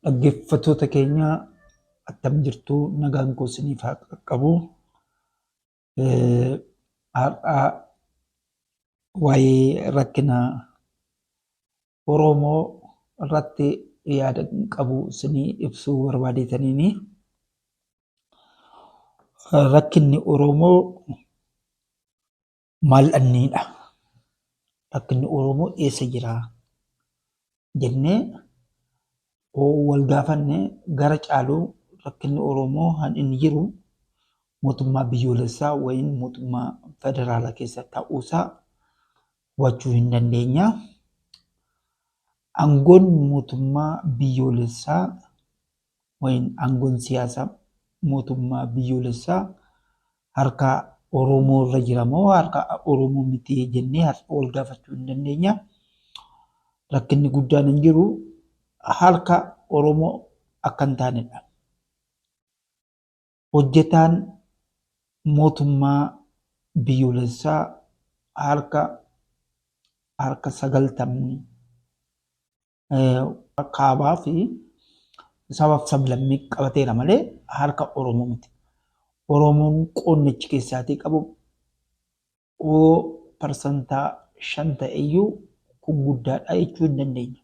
Dhaggeeffattoota keenya attam jirtu nagaan koo isiniif haa qaqqabu. Har'a waa'ee rakkina Oromoo irratti yaada qabu isinii ibsuu barbaadeetaniini. Rakkinni Oromoo Maal dhabneedha? Rakkinni Oromoo eessa jira? jennee oo wal gaafanne gara caaluu rakkinni Oromoo kan inni jiru mootummaa biyyoolessaa wayin mootummaa federaalaa keessa ta'uusaa hubachuu hin dandeenya. Aangoon mootummaa biyyoolessaa Wayiin aangoon siyaasaa mootummaa biyyoolessaa harka Oromoo irra jira moo harka Oromoo miti jennee har'a wal gaafachuu hin dandeenya. Rakkinni guddaan hin jiru harka Oromoo akka hin taanedha. Hojjetaan mootummaa biyyoolessaa harka harka sagaltamni kaabaa fi sabaaf sablammii qabateera malee harka Oromoo miti. Oromoon qonnichi keessaatii qabu oo parsantaa shan ta'eyyuu kun guddaadha jechuu hin dandeenye.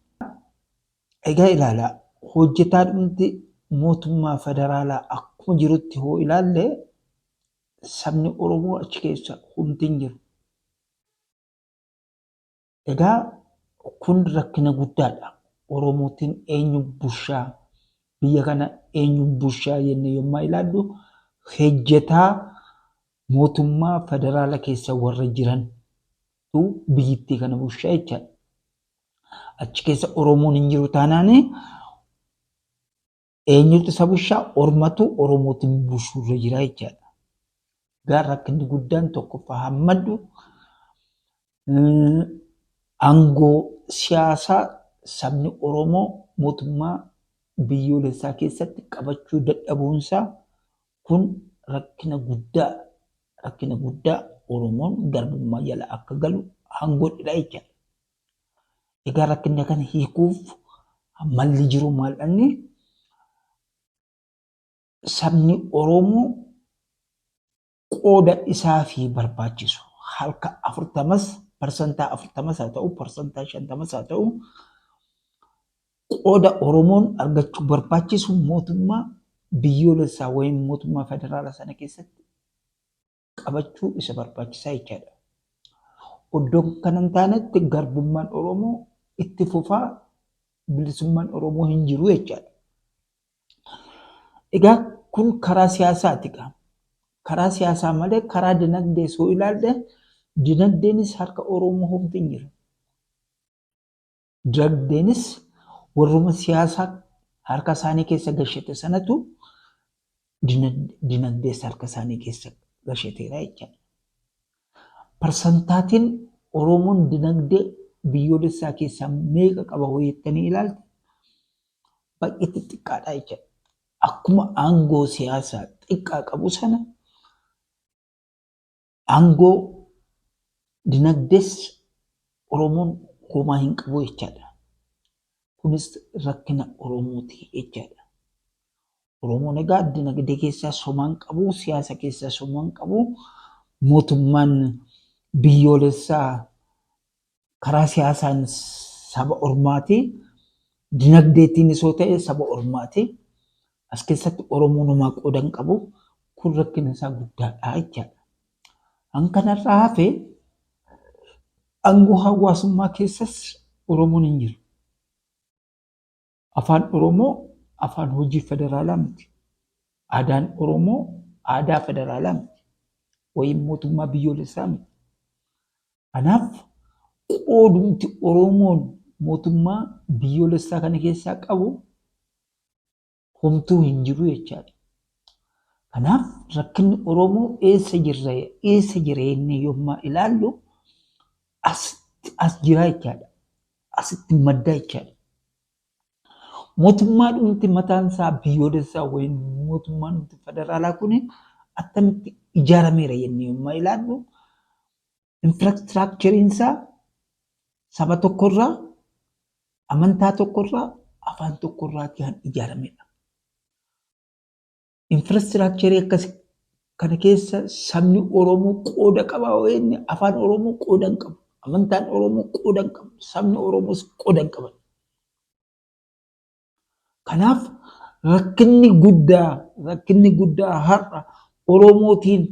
Egaa ilaalaa hojjetaa dhumti mootummaa federaalaa akkuma jirutti hoo ilaalle sabni Oromoo achi keessa humti hin jiru. Egaa kun rakkina guddaadha. Oromootiin eenyu bushaa biyya kana eenyu bushaa jenne yommaa ilaallu hojjetaa mootummaa federaala keessa warra jiran tu biyyittii kana bushaa jechaadha. Achi keessa Oromoon hin jiru taanaan eenyutu isa bushaa ormatu oromootiin bushuurra jira jechaadha. Gaa rakkinni guddaan tokkoffaa hammaddu aangoo siyaasaa sabni Oromoo mootummaa biyyoolessaa keessatti qabachuu dadhabuunsaa kun rakkina guddaa rakkina guddaa Oromoon garbummaa jala akka galu hangoodha jechaadha. Egaa rakkinna kana hiikuuf malli jiru maal dhanni sabni Oromoo qooda isaa fi barbaachisu halka afurtamas parsantaa afurtamas haa ta'u parsantaa shantamas haa ta'u qooda Oromoon argachuu barbaachisu mootummaa biyyoolessaa wayim mootummaa federaalaa sana keessatti qabachuu isa barbaachisaa jechaadha. Oddoo kana hin taanetti garbummaan Oromoo itti fufaa bilisummaan Oromoo hin jiru jechaadha. Egaa kun karaa siyaasaati gaa. Karaa siyaasaa malee karaa dinagdee soo ilaalle dinagdeenis harka Oromoo homti hin jiru. Dinagdeenis warruma siyaasa harka isaanii keessa gashete sanatu dinagdees harka isaanii keessa gasheteera jechaadha. Parsantaatiin Oromoon dinagdee biyyoolessaa keessaa meeqa qaba hoo jettanii ilaalte baay'eetti xiqqaadha jechaadha. Akkuma aangoo siyaasaa xiqqaa qabu sana Aangoo dinagdees Oromoon homaa hin qabu jechaadha. Kunis rakkina Oromooti jechaadha. Oromoon egaa dinagdee keessaa somaa hin qabu, siyaasa keessaa somaa hin qabu, mootummaan biyyoolessaa karaa siyaasaan saba ormaati, dinagdeetiinis yoo ta'e saba ormaati. As keessatti Oromoon homaa qooda hin qabu. Kun rakkina isaa guddaadha jechaadha. An kanarraa hafe aangoo hawaasummaa keessas Oromoon hin jiru. Afaan Oromoo afaan hojii federaalaa miti. Aadaan Oromoo aadaa federaalaa miti. Wayim mootummaa biyyoolessaa miti. Kanaaf qoodumti Oromoon mootummaa biyyoolessaa kana keessaa qabu homtuu hin jiru jechaadha. Kanaaf rakkinni Oromoo eessa jirra eessa jira jennee yommaa ilaallu as as jiraa jechaadha. asitti maddaa jechaadha. Mootummaa dhumti mataan isaa biyyoolessaa wayii mootummaan dhumti federaalaa kun attamitti ijaarameera jennee yommuu ilaallu infiraastiraakcheriin isaa saba tokkorraa amantaa tokkorraa afaan tokkorraa kan ijaaramedha. infraastiraakcharii akkasi kana keessa sabni Oromoo qooda qaba yoo jenne afaan Oromoo qooda hin qabu. Amantaan Oromoo qooda hin qabu. Sabni Oromoos qooda hin qaban. Kanaaf rakkinni guddaa rakkinni guddaa har'a Oromootiin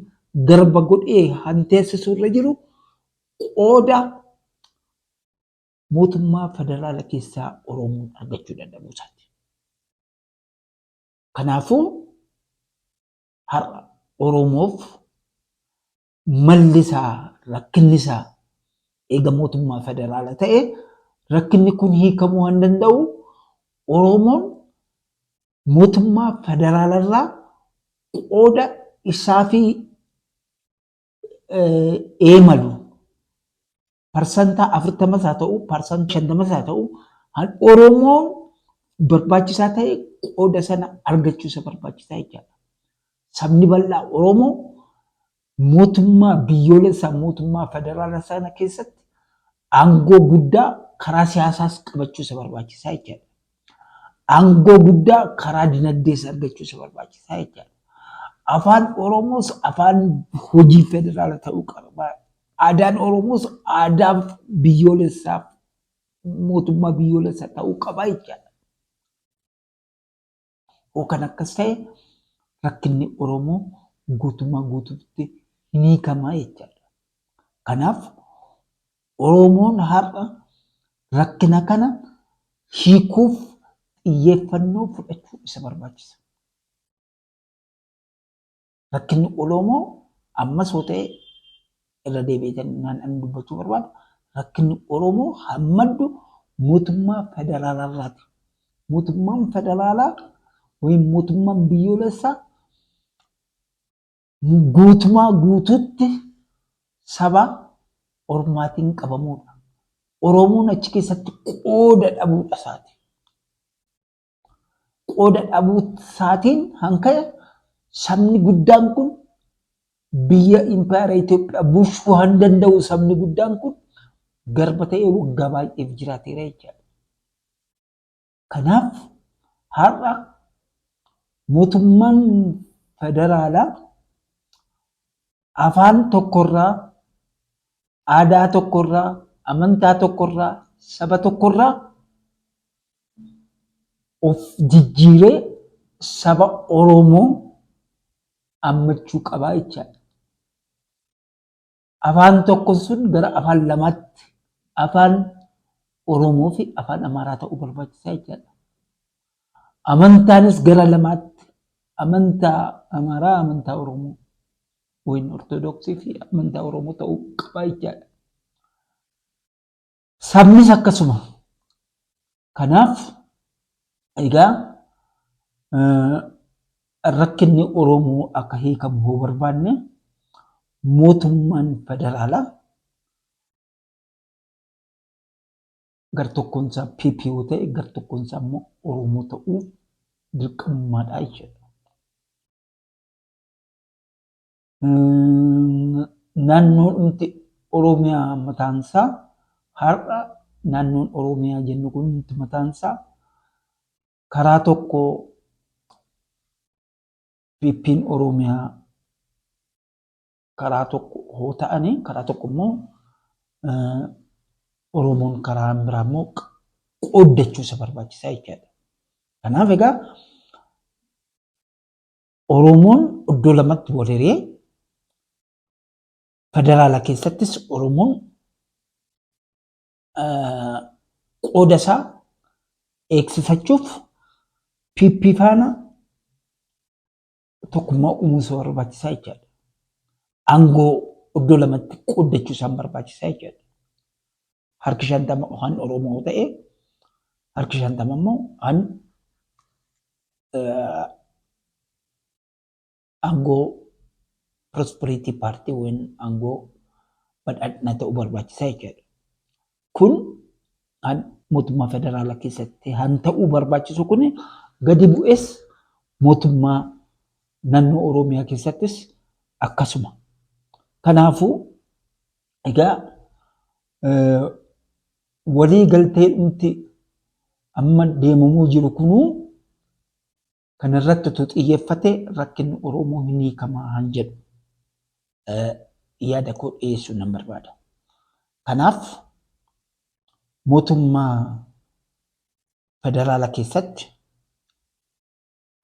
garba godhee hanteessisu irra jiru qooda mootummaa federaala keessaa Oromoon argachuu dadhabuu isaati. Kanaafuu har'a Oromoof malli isaa rakkinni isaa eega mootummaa federaala ta'e rakkinni kun hiikamuu waan danda'u Oromoon mootummaa federaala irraa qooda isaa fi eemalu parsantaa afurtamas haa ta'u, parsantaa shantamas haa ta'u, kan Oromoon barbaachisaa ta'e qooda sana argachuu isa barbaachisaa jechaadha. Sabni bal'aa Oromoo mootummaa biyyoolessaa mootummaa federaalaa sana keessatti aangoo guddaa karaa siyaasaas qabachuu isa barbaachisaa jechaadha. Aangoo guddaa karaa dinagdees argachuu isa barbaachisaa jechaadha. Afaan Oromoos afaan hojii federaala ta'uu qaba. Aadaan Oromoos aadaa biyyoolessaa mootummaa biyyoolessaa ta'uu qaba jechaadha. Yoo kan akkas ta'e rakkinni Oromoo guutummaa guutuutti hin hiikamaa jechaadha. Kanaaf Oromoon har'a rakkina kana hiikuuf xiyyeeffannoo fudhachuu isa barbaachisa. Rakkinni Oromoo ammas yoo ta'e irra deebi'ee kan ani dubbachuu barbaadu rakkinni Oromoo kan maddu mootummaa federaalaa irraati. Mootummaan federaalaa yookiin mootummaan biyyoolessaa Guutumaa guutuutti saba ormaatiin qabamuudha. Oromoon achi keessatti qooda dhabuudha isaati. Qooda dhabuu isaatiin hanka'e sabni guddaan kun biyya impaayera Itoophiyaa bulchuu han danda'u sabni guddaan kun garba ta'ee waggaa baay'eef jiraateera jechaadha. Kanaaf har'a mootummaan federaalaa afaan tokkorraa, aadaa tokkorraa, amantaa tokkorraa, saba tokkorraa of jijjiiree saba Oromoo ammachuu qabaa jechaadha. Afaan tokkon sun gara afaan lamaatti afaan Oromoo fi afaan Amaaraa ta'uu barbaachisaa jechaadha. Amantaanis gara lamaatti amantaa Amaaraa, amantaa Oromoo yookiin Ortodoksii fi amantaa Oromoo ta'uu qaba jechaadha. Sabnis akkasuma. Kanaaf egaa rakkinni Oromoo akka hiikamu yoo barbaanne mootummaan federaalaa gartokkoon isaa PP yoo ta'e gartokkoon isaa immoo Oromoo ta'uu dirqamummaadha jechuudha. Naannoon dhumti Oromiyaa mataansaa har'a naannoon Oromiyaa jennu kun dhumti mataansaa karaa tokko PP'n Oromiyaa karaa tokko hoo ta'anii karaa tokko immoo Oromoon karaa biraa immoo qooddachuu isa barbaachisaa jechaadha. Kanaaf egaa Oromoon iddoo lamatti wal hiree federaala keessattis Oromoon qooda isaa eegsifachuuf PP faana tokkummaa uumuu isa barbaachisaa jechaadha. Aangoo iddoo lamatti qooddachuu isaan barbaachisaa jechaadha. harki shantama kan Oromoo ta'e harki shantama immoo kan aangoo prosperity party wen aangoo badhaadhina ta'u barbaachisa jechuudha. Kun kan mootummaa federaalaa keessatti kan ta'uu barbaachisu kun gadi bu'es mootummaa naannoo Oromiyaa keessattis akkasuma. Kanaafuu Egaa walii galtee dhumti amma deemamuu jiru kunuu kan irratti utuu xiyyeeffate rakkinni Oromoo hin hiikamaa han jedhu yaada koo dhiyeessuu nan barbaada. Kanaaf mootummaa federaala keessatti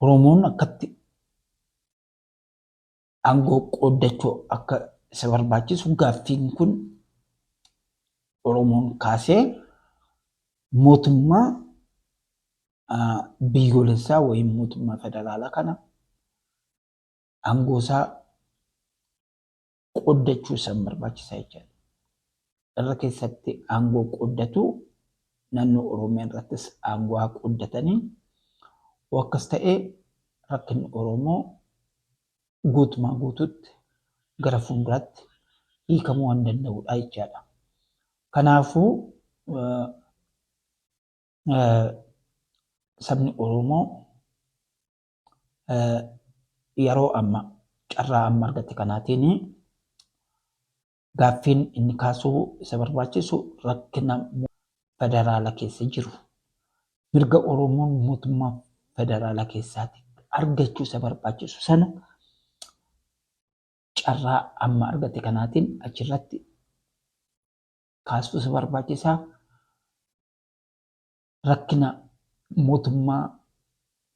Oromoon akkatti aangoo qooddachuu akka isa barbaachisu gaaffiin kun Oromoon kaasee mootummaa biyyoolessaa wayii mootummaa federaalaa kana aangoo isaa qooddachuu isaan barbaachisa jechuudha. irra keessatti aangoo qooddatu naannoo Oromiyaa irrattis aangoo haa qooddatanii oo akkas ta'ee rakkinni Oromoo guutumaa guututti gara fuulduraatti hiikamuu waan danda'udha jechaadha. Kanaafuu sabni Oromoo yeroo amma carraa amma argate kanaatiin Gaaffiin inni kaasuu isa barbaachisu rakkina federaala keessa jiru mirga Oromoon mootummaa federaala keessaati argachuu isa barbaachisu sana carraa amma argate kanaatiin achirratti kaasuu isa barbaachisaa rakkina mootummaa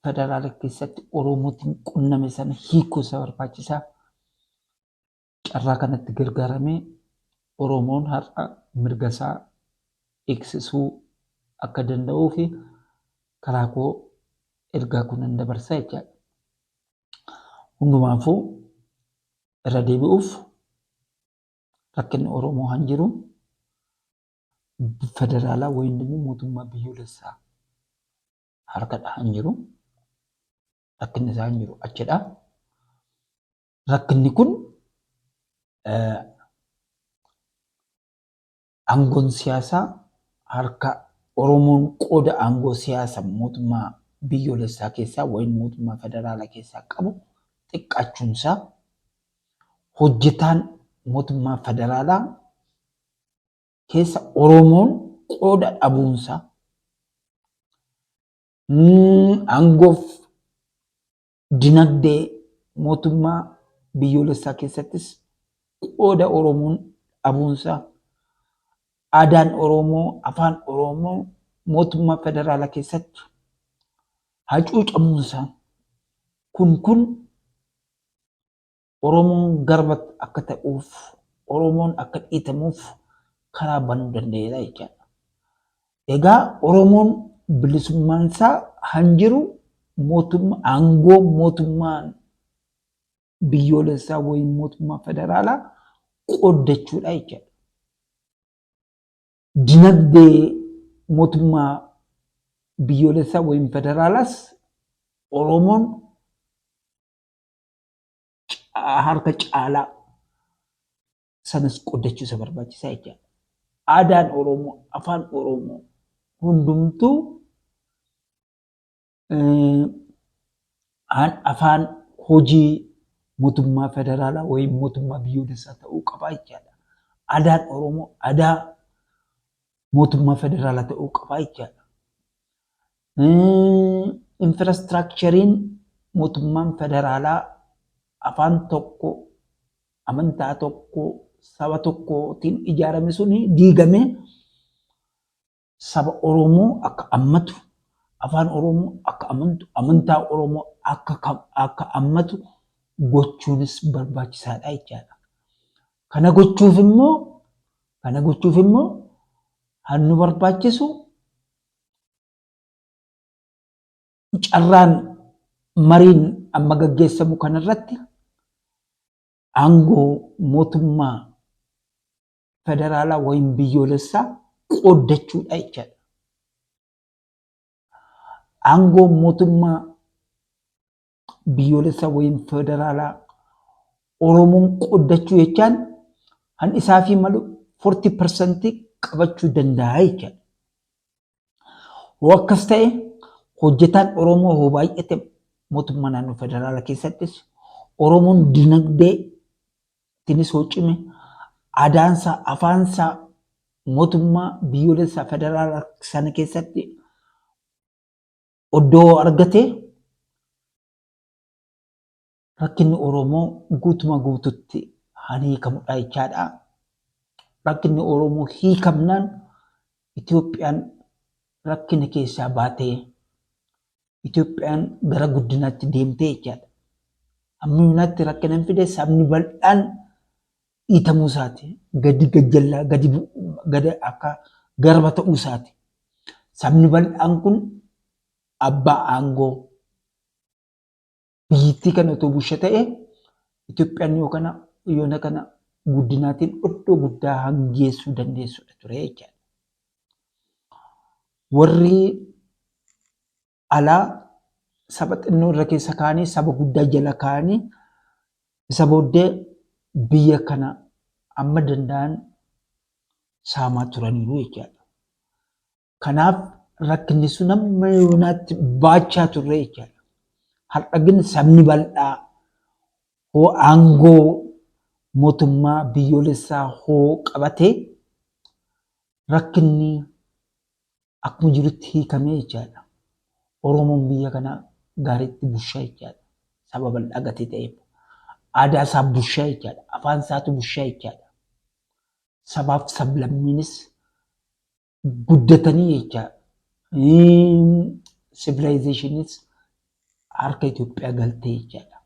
federaala keessatti Oromootiin qunname sana hiikuu isa barbaachisaa Carraa kanatti gargaaramee Oromoon har'a mirga isaa eegsisuu akka danda'uuf karaa koo ergaa koo nan dabarsa jechaadha. Hundumaafuu irra deebi'uuf rakkinni Oromoo kan jiru federaalaa wayiin immoo mootummaa biyyoolessaa harkadha kan jiru. Rakkinni isaa kan jiru achidha. rakkinni kun aangoon siyaasaa harka Oromoon qooda aangoo siyaasa mootummaa biyyoolessaa keessaa wayin mootummaa federaalaa keessaa qabu xiqqaachuunsaa hojjetaan mootummaa federaalaa keessa Oromoon qooda dhabuunsaa aangoof Dinagdee mootummaa biyyoolessaa keessattis qooda Oromoon dhabuunsaa aadaan Oromoo, afaan Oromoo mootummaa federaalaa keessatti hacuucamuunsaa kun kun Oromoon garba akka ta'uuf, Oromoon akka dhiitamuuf karaa banuu danda'eera jechaadha. Egaa Oromoon bilisummaan isaa kan jiru mootummaa aangoo mootummaan biyyoolessaa wayii mootummaa federaalaa qooddachuudha jechaadha. Dinagdee mootummaa biyyoolessaa wayii federaalaas Oromoon ca- harka caalaa sanas qoddachuu isa barbaachisaa jechaadha. Aadaan Oromoo, afaan Oromoo hundumtuu eh, an- afaan hojii mootummaa federaalaa wayim mootummaa biyyoolessaa ta'uu qabaa jechaadha. Aadaan Oromoo aadaa mootummaa federaalaa ta'uu qabaa jechaadha. Infiraastiraakchariin mootummaan federaalaa afaan tokko, amantaa tokko, saba tokkootiin ijaarame suni diigamee saba Oromoo akka ammatu, afaan Oromoo akka amantu, amantaa Oromoo akka ammatu gochuunis barbaachisaadha jechaadha. Kana gochuuf immoo kana gochuuf immoo kan nu barbaachisu carraan mariin amma gaggeessamu kanarratti aangoo mootummaa federaalaa wayim biyyoolessaa qooddachuudha jechaadha. Aangoo mootummaa biyyoolessaa wayim federaalaa Oromoon qoddachuu jechaan kan isaa fi malu 40% qabachuu danda'a jechaadha. Hoo akkas ta'e hojjetaan Oromoo hoo baay'ate mootummaa naannoo federaalaa keessattis Oromoon dinagdee tinis hoo cime aadaansaa afaansaa mootummaa biyyoolessaa federaalaa sana keessatti Oddoo argate rakkinni Oromoo guutuma guututti haan hiikamudha jechaadha. Rakkinni Oromoo hiikamnaan Itoophiyaan rakkina keessaa baatee Itoophiyaan gara guddinaatti deemtee jechaadha. Amma yuunaatti rakkina hin fide sabni bal'aan dhiitamuu isaati, gadi gajjallaa, gadi gada akka garba ta'uu isaati. Sabni bal'aan kun abbaa aangoo biyyittii kana otoo bushe ta'e Itoophiyaan yoo kana yoona kana guddinaatiin iddoo guddaa hangeessuu dandeessudha ture jechaadha. Warri alaa saba xinnoo irra keessa kaa'anii saba guddaa jala kaa'anii isa booddee biyya kana amma danda'an saamaa turaniiru jechaadha. Kanaaf rakkinni sun amma yoonaatti baachaa turre jechaadha. Har'a gin sabni bal'aa hoo aangoo mootummaa biyyoolessaa hoo qabatee rakkinni akkuma jirutti hiikamee jechaadha. Oromoon biyya kana gaariitti bushaa jechaadha. Saba bal'aa gatii ta'eef. Aadaa isaa bushaa jechaadha. Afaan isaatu bushaa jechaadha. Sabaaf sablammiinis guddatanii jechaa sivilaayizeeshiniis harka Itoophiyaa galtee jechaadha.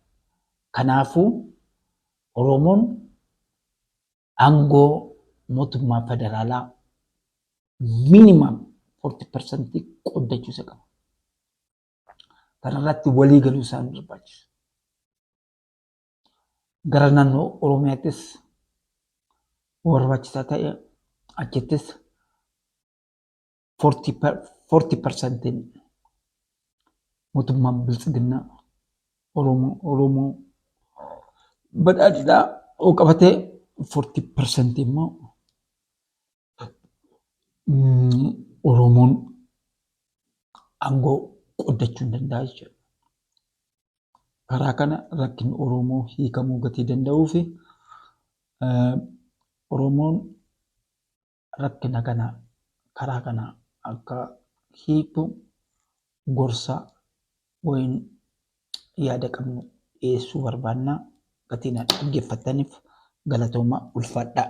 Kanaafuu Oromoon Aangoo mootummaa federaalaa minimum 40% qooddachuu isa qaba. Kanarratti walii galuu isaan barbaachisa. Gara naannoo Oromiyaattis barbaachisaa ta'e achittis 40 parsantiin mootummaan biltsiginnaa Oromoo Oromoo badhaadhinaa oo qabatee 40 parsantii immoo Oromoon aangoo qoddachuu hin danda'a jechuudha. Karaa kana rakkinni Oromoo hiikamuu gatii danda'uu fi Oromoon rakkina kana karaa kana akka hiiktu gorsa wayin yaada qabnu dhiyeessuu barbaanna. Gatii na dhaggeeffattaniif galatooma ulfaadhaa.